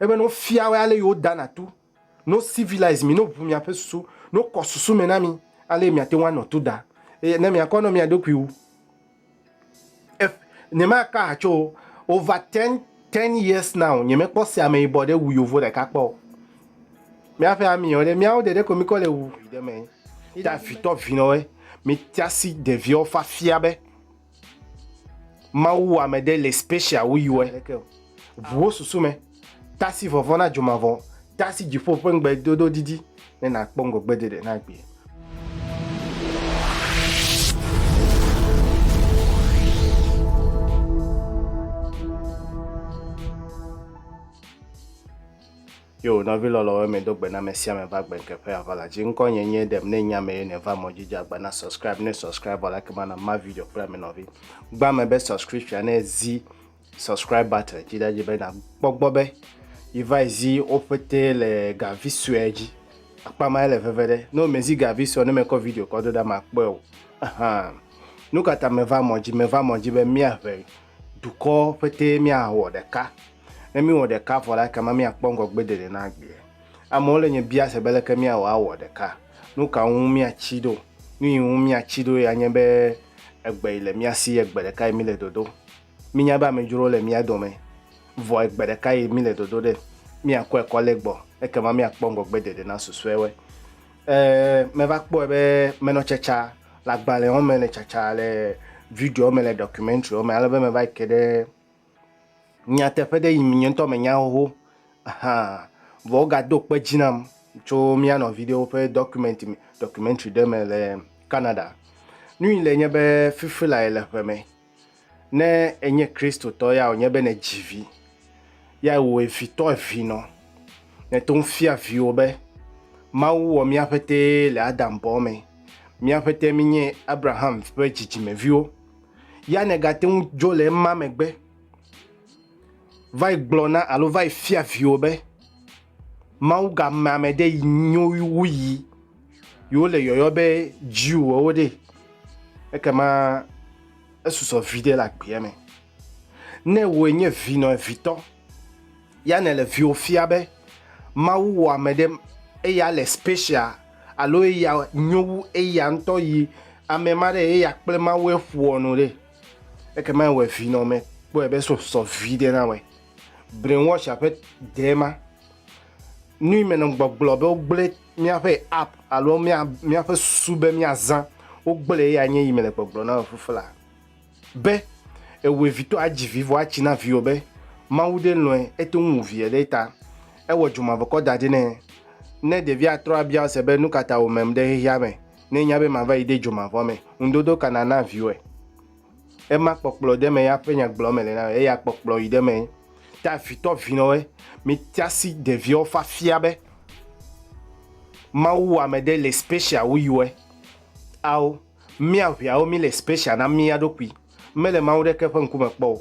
Ebe no fia wɛ ale yo da na tu, no civilize mi, no ʋu mia ƒe susu, no kɔ susu me na mi, ale mia te ŋu anɔ tu da. Eye ne mia kɔ nɔ mia ɖokui wu. Ef, nye ma ka ha tso over ten, ten years now, nye me kpɔ se ameyibɔ ɖe wu yovo ɖeka kpɔ o. Mia ƒe ami yɔ ɖe, miawo ɖe ɖe ko mi kɔ le wu. Ɖe me. Davitɔ vinɔwɛ, mi tiasi ɖeviɔ fa fia be. Mawu wɔ ame ɖe le special wu yiwɔe. Ʋu wo susu me. Tasi vɔvɔ̃ na dzomavɔ. Tasi dziƒo ƒe ŋugbe dodo didi ne nàkpɔ ŋgɔgbe ɖeɖe na agbee. Yo, nɔvi lɔlɔwo, eme do gbe na me sia me va gbe nke ƒe ava la dzi. Ŋkɔ nye nye ɖem ne nya me ye ne va mɔ dzi dze agba na subscribe ne subscribe bɔ la kema na ma video kple ame nɔvi. Gba me be subscription ne zi subscribe button dzi da dzi be na gbɔgbɔ be yi va zi wo pete le gavi sue dzi. Akpa ma le veve ɖe. No me zi gavi sue ne me kɔ video kɔ do da ma kpɔe o. Ahan. Nukata me va mɔ dzi me va mɔ dzi be mia ʋe. Dukɔ ƒetee míawɔ ɖeka. Ne míewɔ ɖeka vɔ la, ekema míakpɔ ŋgɔgbedede na agbeɛ. Amewo le nye bia se be leke míawɔ awɔ ɖeka. Nu ka ŋu míatsi ɖo? Nu yi ŋu míatsi ɖo ya nye be egbe yi le mía si ye gbe ɖeka yi míle dodo. Mínya be amedzrowo le mía dome. Vɔ egbe ɖeka yi míle dodo ɖe. Míakɔe kɔ lé gbɔ. Ekema míakpɔ ŋgɔgbedede na susɔewoe. Ẽ, meva kpɔe be menɔ tsatsa le agbalẽwo me, le tsatsa le videowo me, le dɔkumentriwo me, ale be meva yi ke ɖe nyateƒe ɖe yim nye ŋutɔ menya xoxo hã. Vɔ wogado kpe dzi nam tso mía nɔvi ɖewo ƒe dɔkumɛnti me, dɔkumentri ɖe me le Canada. Nu yi le nye be fifi lae le ƒe me Ne enye Kristotɔ ya wònye be nèdzi vi, ya wò evitɔ evi nɔ, nèto ŋu fia viwò be Mawu wɔ mía ƒetee le Adam bɔ me. Mía ƒetee míenye Abraham ƒe dzidzimeviwo. Ya nègate ŋu dzo le ema megbe va yi gblɔ na alo va yi fia viwò be, Mawu ga me ame ɖe yi nyo wu yi yewo le yɔyɔ be Jew wɔwo ɖe ekema esusɔ vi ɖe le agbea me. Ne wòe nye vi nɔ evitɔ, ya ne le viwo fia be Mawu wɔ ame ɖe eya le special alo eya nyo wu eya ŋutɔ yi ame ma ɖe eya kple Mawu eƒoɔ nu ɖe ekema ewɔe vi nɔ me kpɔe be susɔ vi ɖe na wɔe. brainwasher ƒe dee ma. Nui me nɔ gbɔgblɔ be wogblẽ míaƒe app alo mía míaƒe susu be míazã wogblẽ eya nye yi mele gbɔgblɔ na fuflaa be ewɔe vitɔ adzi vi vɔ atsi na viwò be Mawu ɖe lɔ̃e ete ŋu wu vie ɖe ta ewɔ dzomavɔkɔ da ɖi nɛ. Ne ɖevia trɔ abia ese be nukata wòmem ɖe xexeame ne nya be mava yi ɖe dzomavɔ me, ŋudodo ka nàna viwòe? Ema kpɔkplɔ ɖe me ya ƒe nyagblɔ me le na eya kpɔkplɔ yi ɖe me ta vitɔ vinɔwe mi tiasi ɖeviwo fa fia be mawu wa me ɖe le special wu yiwe ao mi aʋiawo mi le special na mi ya ɖokui me le mawu ɖe ke ƒe ŋku me kpɔ o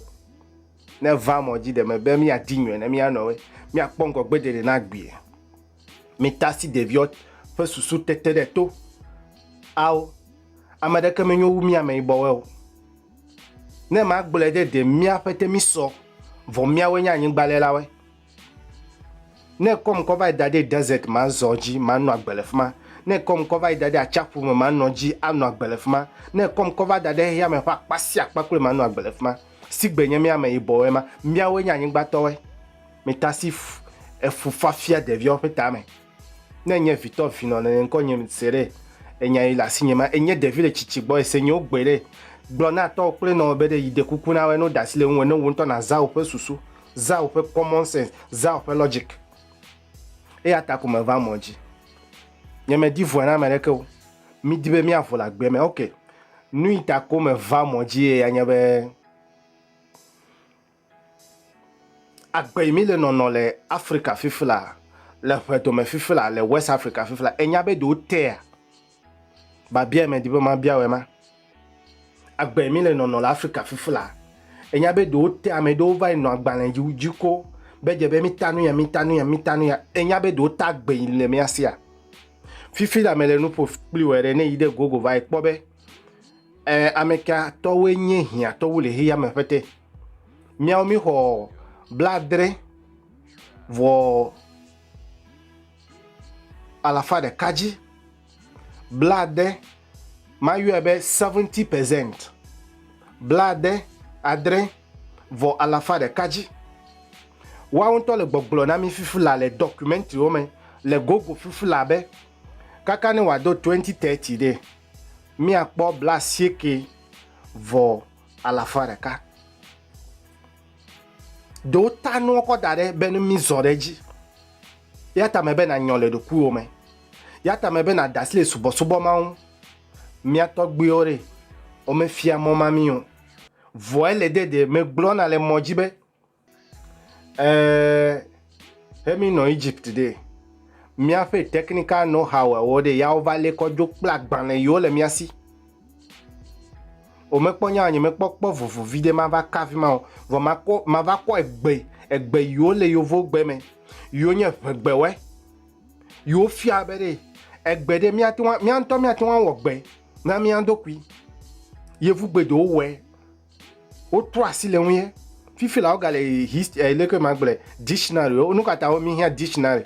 ne va mɔ dzi ɖe me be mi ya di nyɔe ne mi ya nɔwe mi akpɔ ŋgɔ gbe ɖeɖe na gbie Mita asi ɖeviwo ƒe susu tete ɖe to. Ao, ame ɖeke menyo wu mí ameyibɔwoe o. Ne magblɔe ɖe ɖe míaƒe te mí sɔ, vɔ míawoe nye anyigbalẽlawoe. Ne kɔm kɔ va yi da ɖe desert ma zɔ dzi manɔ agbe le fi ma. Ne kɔm kɔ va yi da ɖe atsiaƒu me manɔ dzi anɔ agbe le fi ma. Ne kɔm kɔ va da ɖe xexea me ƒe akpa sia akpa kloe manɔ agbe le fi ma. Sigbe nye mí ameyibɔwoe ma, míawoe nye anyigbatɔwoe. Metasi efufafia ɖeviawo ƒe tame. Ne nye vitɔ vinɔ nene ŋkɔ nye se ɖe enya yi le asi nye ma. Enye ɖevi le tsitsi gbɔ ese nye wogbe ɖe. Gblɔ na tɔwo kple nɔwo be ɖe yi ɖe kuku na wɔe ne woda asi le ŋuwò ne wò ŋutɔ nàzã woƒe susu, zã woƒe common sense, zã woƒe logic. Eya ta ko meva mɔ dzi. Nye me di vɔe na ame ɖeke o. Mi di be mia vo le agbe me. Ok. Nuyi ta ko meva mɔ dzi ye ya nye be. Agbei mi le nɔnɔ le Afrika fifila, le ƒe dome fifila, le West Afrika fifila. Enya be ɖewo tea? Babia me di be ma bia wema. Agbei mi le nɔnɔ le Afrika fifila. Enya be ɖewo tea ame ɖewo va nɔ agbalẽ dzi dzi ko be dze be mi ta nu ya, mi ta nu ya, mi ta nu ya. Enya be ɖewo ta agbei le mia sia. Fifi la me le nuƒo kpli wɔ ɖe ne yi ɖe gogo va ekpɔ be eh, ameka tɔwoe nye hiã tɔwo le heya me ƒete. Míawo míxɔ blaadre vɔ alafa ɖeka dzi. Blaade, mayɔe be seventy percent. Blaade adre vɔ alafa ɖeka dzi. Woawo ŋutɔ le gbɔgblɔ na mí fifi la le dɔkumɛntiwo me le gogo fifi la be kaka ne wòado twenty thirty ɖe, míakpɔ blaasieke vɔ alafa ɖeka. Ɖewo ta nua kɔ da ɖe be ne mizɔ ɖe edzi. Ya ta me be na nyɔ le ɖokuiwo me. Ya ta me be na dasi le subɔsubɔ ma ŋu. Mia tɔgbuiwo ɖe, wome fia mɔ ma mi o. Vɔe le de de me gblɔna le mɔ dzi be, Eeeee xe mi nɔ Egypt ɖee, míaƒe technical know how awo ɖe ya wo va lé kɔ dzo kple agbalẽ yiwo le mía si. Wò me kpɔ nyaa nye me kpɔ kpɔ vovo viɖe ma va ka fima o. Vɔ ma kɔ ma va kɔ egbe egbe yiwo le yovo gbe me yiwo nye ŋegbe woe yiwo fia be ɖe egbe ɖe mía te ŋu mía ŋutɔ mía te ŋu awɔ gbe na mía ɖokui. Yevu gbe ɖewo wɔe. wotrɔ asi le ŋuye fifi la wogale hist eh, leke magblɔe dictionary nu ka ta womehiã dictionary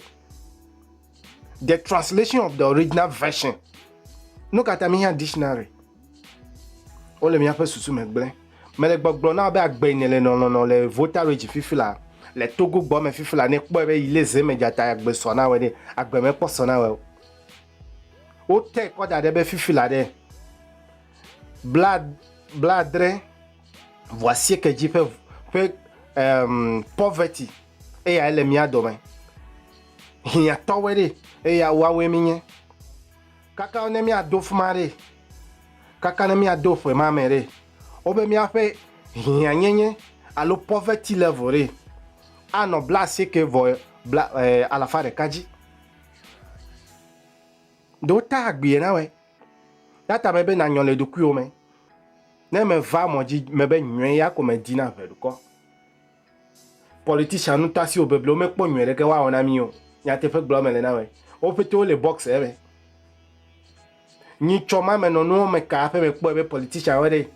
the translation of the original version nu ka ta mehiã dictionary wole míaƒe susu me gblẽ mele gbɔgblɔ na be agbe ne le nɔnɔnɔ le votarage fifi la le togo gbɔ me fifi la ne kpɔe be yile ze me dzata agbe sɔ na wɔ ɖe agbe mekpɔ sɔ na wɔ o wote kɔ da ɖe be fifi la ɖe blaadre vɔ asieke dzi ƒe ƒe um, poverty eya ele mía dome hiãtɔwoe ɖe eya woawoe mi nye kaka ne míado fuma ɖe kaka ne míado ƒe ma me ɖe wobe míaƒe hiãnyenye alo poverty level ɖe anɔ bla asieke vɔ bla eh, alafa ɖeka dzi ɖo ta agbie na wɛ Nata me be nanyɔ le ɖokuiwò me. Ne meva mɔ dzi me be nyɔe ya ko medi na ʋe ɖukɔ. Politician nu ta siwo beblewo mekpɔ nyɔe ɖeke woawɔ na mi o. Nyateƒe gblɔ me le na me. Wo pete wo le box eme. Nyi tsɔ ma me nɔ nuwo me ka aƒe me kpɔe be politician wo ɖe.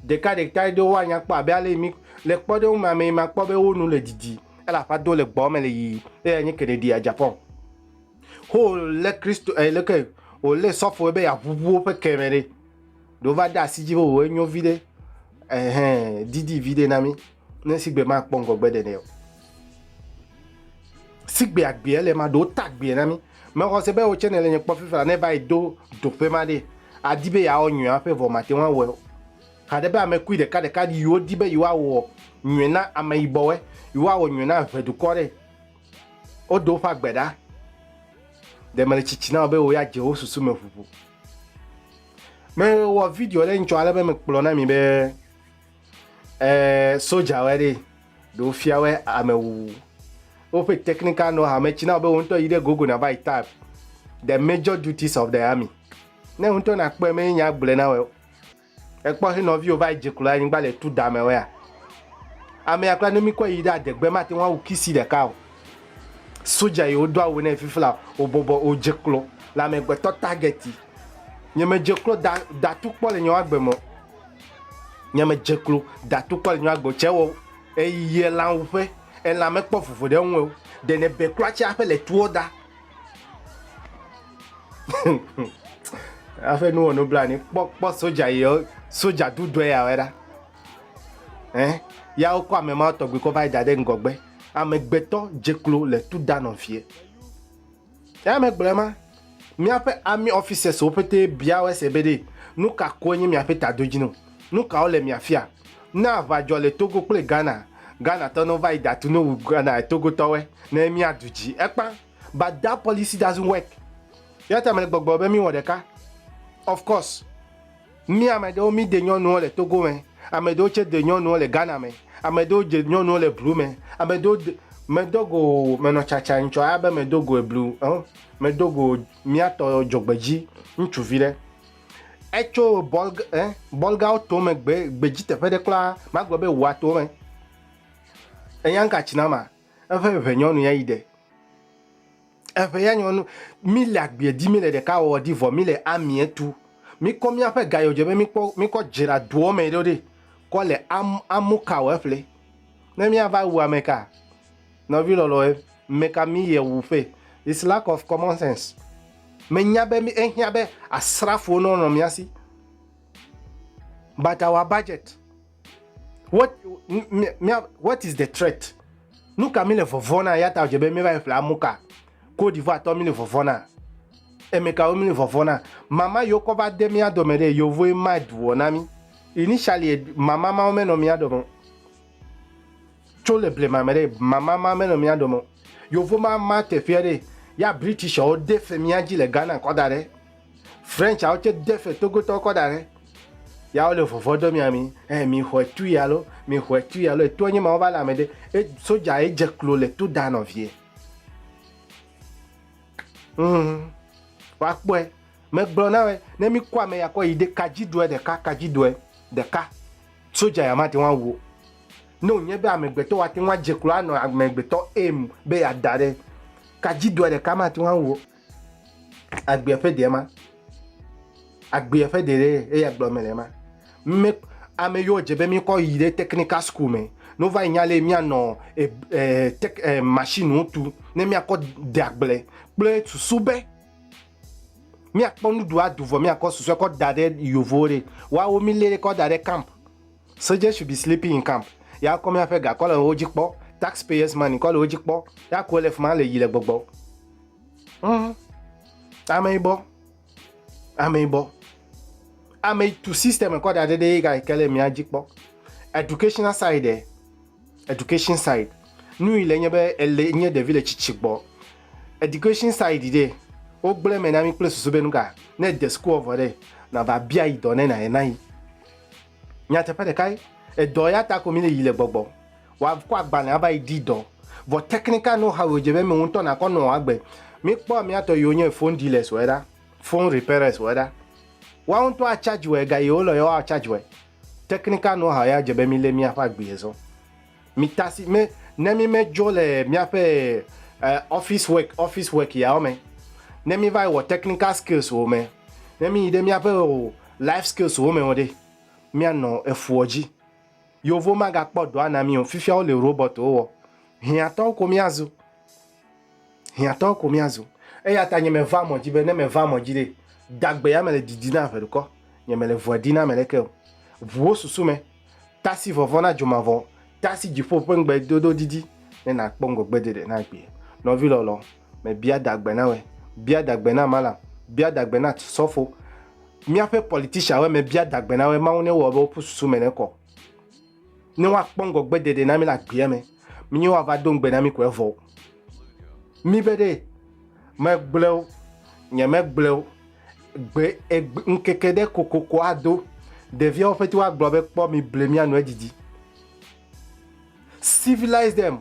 Ɖeka ɖeka ɖe wo anya kpɔ abe ale mi le kpɔ ɖe wo ma me ma kpɔ be wo nu le didi. Ele aƒa do le gbɔ me le yiyi. Eya nye Kennedy ya Japan. Wolé Kristo e leke wolé sɔfowo be yeaʋuʋu woƒe ke me ɖe. Ɖe wova de asi dzi be wòwɔ enyo viɖe ehɛn didi viɖe na mí ne sigbe makpɔ ŋgɔgbe ɖenɛ o. Sigbe agbea le ma ɖewo ta agbea na mí. Mexɔ se be wò tsɛ nèle nye kpɔ fifia ne va yi do doƒe ma ɖe adi be yeawɔ nyui aƒe vɔ mate ŋu awɔe o. Haɖe be ame kui ɖeka ɖeka yiwo di be yewoawɔ nyui na ameyibɔwoe, yewoawɔ nyui na ʋe dukɔ ɖe. Wodo woƒe agbe ɖa. Ɖe mele tsitsi na wò be wò ya dze wo susu me ʋuʋu. Mewɔ video ɖe ŋtsɔ ale be mekplɔ na mi be eh, sodzawoe ɖe ɖe wofiawoe amewuwu. Woƒe technical know-how metsi na wò be wò ŋutɔ yi ɖe Google nava yi type the major duties of the army. Ne wò ŋutɔ nakpɔe me nya gblɔe na wò. Èkpɔ xi nɔviwo va yi dze klo ɖe anyigba le tu dame wɛa? Amea kura ne mikɔe yi ɖe adegbe mate ŋu awu kisi ɖeka o. Soja yi wodo awu nɛ fifla o bɔbɔ o dze klo le amegbetɔ target yi. Nye me dze klo da da tu kpɔ le nye wagbe me o. Nye me dze klo da tu kpɔ le nye wagbe o. Tse wɔ eyi yi elan wuƒe elan mekpɔ vovo ɖe ŋu o. Ɖe ne be kura tse aƒe le tuɔ da. Aƒe nuwɔ nubla ni kpɔ kpɔ soja yi soja dudɔe ya wɛ ɖa. Ɛ ya wokɔ ame ma tɔgbi kɔ va yi da ɖe ŋgɔgbe. Amegbetɔ dze klo le tu da nɔ fie. Ya me gblɔ ma míaƒe ami officers wo pete bia wɛ se be ɖe nu ka koe nye míaƒe tadodzinu. Nu kawo le miafia? Ne aʋa dzɔ le Togo kple Ghana, Ghana tɔ ne va yi da tu no wu Ghana Togo tɔwɛ ne míadu dzi. Ekpa. but that policy doesn't work yata mele gbɔgblɔ be míwɔ ɖeka of course mí ame ɖewo mí de nyɔnuwo le togo me ame ɖewo tse de nyɔnuwo le ghana me ame ɖewo dze nyɔnuwo le blu me ame ɖewo de medogo menɔ tsatsa ŋtsɔ abe medogo eblu ɔ medogo míatɔ dzogbedzi ŋutsuvi ɖe etso bɔl ɛ bɔlgawo to me gbe gbedzi teƒe ɖe kura magblɔ be wòato me enyanka tsinama Eƒe ʋe nyɔnu ya yi ɖe. Eʋe ya nyɔnu. Mi le agbiɛ di, mi le ɖeka wɔwɔ di vɔ mi le amiɛ tu. Mi kɔ miaƒe gayɔdjɔɛ be mi kpɔ mi kɔ djra doɔ mɛ ɖo ɖe kɔ le am amu ka wɔ eƒle. Ne mia va wu amɛ ka? Nɔvi lɔlɔe, mɛka mi yɛ wu ƒe? It's lack of common sense. Me nya be mi ehiã be asrafowo nɔ nɔ mia si. But our budget What, what is the threat? Nu ka mi le vɔvɔ na ya ta dze be mi va ƒle amu ka? Ko divoa tɔ mi le vɔvɔ na. Eme ka wo mi le vɔvɔ na? Mama yo kɔ va de mi adɔ me de yo voe ma duo na mi. Initially mama ma me no mi adɔ me. Cho le ble mama de mama ma me no mi adɔ me. Yo vo ma ma te fia de ya British o de fe mi aji le Ghana kɔ da de. French awo tse de fe togotɔ kɔ da ɖe. Ya wole vɔvɔ dɔ mia mi. Eh mi xɔ etu ya lo, mi xɔ etu ya lo. Etua nye ma wo va le ame ɖe. E soja ye dze klo le to da nɔvie. Mm. Wa kpɔe. Me gblɔ na we ne mi kɔ ame ya kɔ yi de kadzi doe ɖeka kadzi doe ɖeka. Soja ya ma te wa wo. Ne o nye be amegbetɔ wa te wa dze klo anɔ amegbetɔ em be ya da ɖe. Kadzi doe ɖeka ma te wa wo. agbea ƒe ɖee ma. Agbea ƒe ɖe ɖee eya gblɔ mele ema. Mí, ame yiwo dze be míkɔ yi ɖe tekinika sukulu me ne wova yi nya lɛ míanɔ e, e, tek, e, mashiniwo tu ne míakɔ de agble kple susu be míakpɔ nuɖu aɖu vɔ míakɔ susue kɔ da ɖe yevuwo ɖe. Woawo mílée kɔ da ɖe kamp Soldiers should be sleeping in camp. Ya kɔ miaƒe ga kɔ le wo dzi kpɔ. Tax payers money kɔ le wo dzi kpɔ. Ya kɔ le fima le yi le gbɔgbɔ. Mm. Ame ibɔ. Ame ibɔ. Ame tu system kɔ da ɖe ɖe ga ke le mia dzi kpɔ. Educational side. Eh? Education side. Nu yi le nye be ele nye ɖevi le tsitsi gbɔ. Education side ɖe. Wo gblẽ me na mi kple susu be nuka. Ne de school vɔ ɖe. Na va bia yi dɔ ne na ye na yi. Nyateƒe ɖekae, edɔ ya ta ko mi le yi le gbɔgbɔ. Wa kɔ agbalẽ ava yi di dɔ. Vɔ technical know how ye dze be mi ŋutɔ na kɔ nɔ agbe. Mi kpɔ amia tɔ yiwo nye phone dealers wɔ ɖa, phone repairers wɔ ɖa. Wa ŋutɔ a charge wɔ ega yiwo lɔ ye wa charge wɔ. Technical know how ya dze be mi le mia ƒe agbe zɔ. Mitasi me ne mi me dzo le miaƒe office work office work yawo me ne mi va yi wɔ technical skills wo me ne mi yi ɖe miaƒe o life skills wo me wo ɖe mia nɔ efuɔ dzi yovo ma ga kpɔ dɔa na mi o fifia wo le robot wo wɔ hiã tɔwo ko mia zu. Hiãtɔ ko míazu. Eya ta nye mevaa eme dzi be ne mevaa eme dzi ɖe, dagbea mele didi na ʋe ɖekɔ, nye mele ŋua ɖi na ame ɖeke o. Ʋu wò susu me, tasi vɔvɔ̃ na dzomavɔ, tasi dziƒo ƒe ŋugbedodo didi ne nàkpɔ ŋgɔgbeɖeɖe na agbee. Nɔvi lɔlɔ, mebia dagbe na wòe, bia dagbe na malam, bia dagbe na sɔfo, míaƒe politicianwoe, mebia dagbe na wòe, Mawu newɔ be woƒu susu me nekɔ. ne woakpɔ ŋgɔgbe ɖeɖe na mi le agbea me. Míe woava do ŋugbe na mi ko evɔ. Mi be ɖe megblẽ o, nye megblẽ o. Gbe egbe ŋkeke ɖe kokoko ado. Ɖeviawo ƒete woagblɔ be kpɔ mi ble mía nu edidi. Civilize them.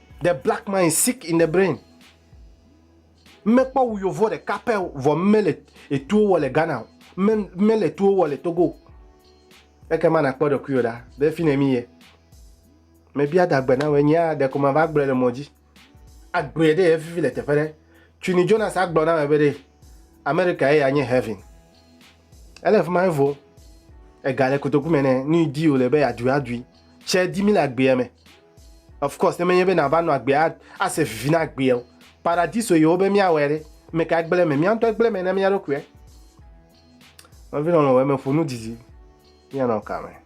The black man is sick in the brain. Mekpɔ wu yovo ɖeka pɛ vɔ mele etuwo wɔ le Ghana o. Mele etuwo wɔ le Togo. Ekema nakpɔ ɖokuiwò ɖa be fi ne mi ye. Mebia dagbe na wòe nyea ɖeko mava gblɔe le mɔ dzi. Agblɔe ɖe evivi le teƒe ɖe. Twini Jonas agblɔ na wòe be ɖe Amerika ye anye heaven. Ele afi ma evo. Ega le kotoku me nɛ. Nu yi di wòle be yeadui adui. Tsɛ di mí le agbea me. Of course, ne menye be nàva nɔ agbea ase vivi na agbea o. Paradiso ye wobe míawɔe ɖe. Ame kae gblẽ eme? Mía ŋutɔe gblẽ eme na mía ɖokuiwoe. Nɔvi lɔlɔ̃ wɔ eme ƒo nu didi. Míanɔ ka me?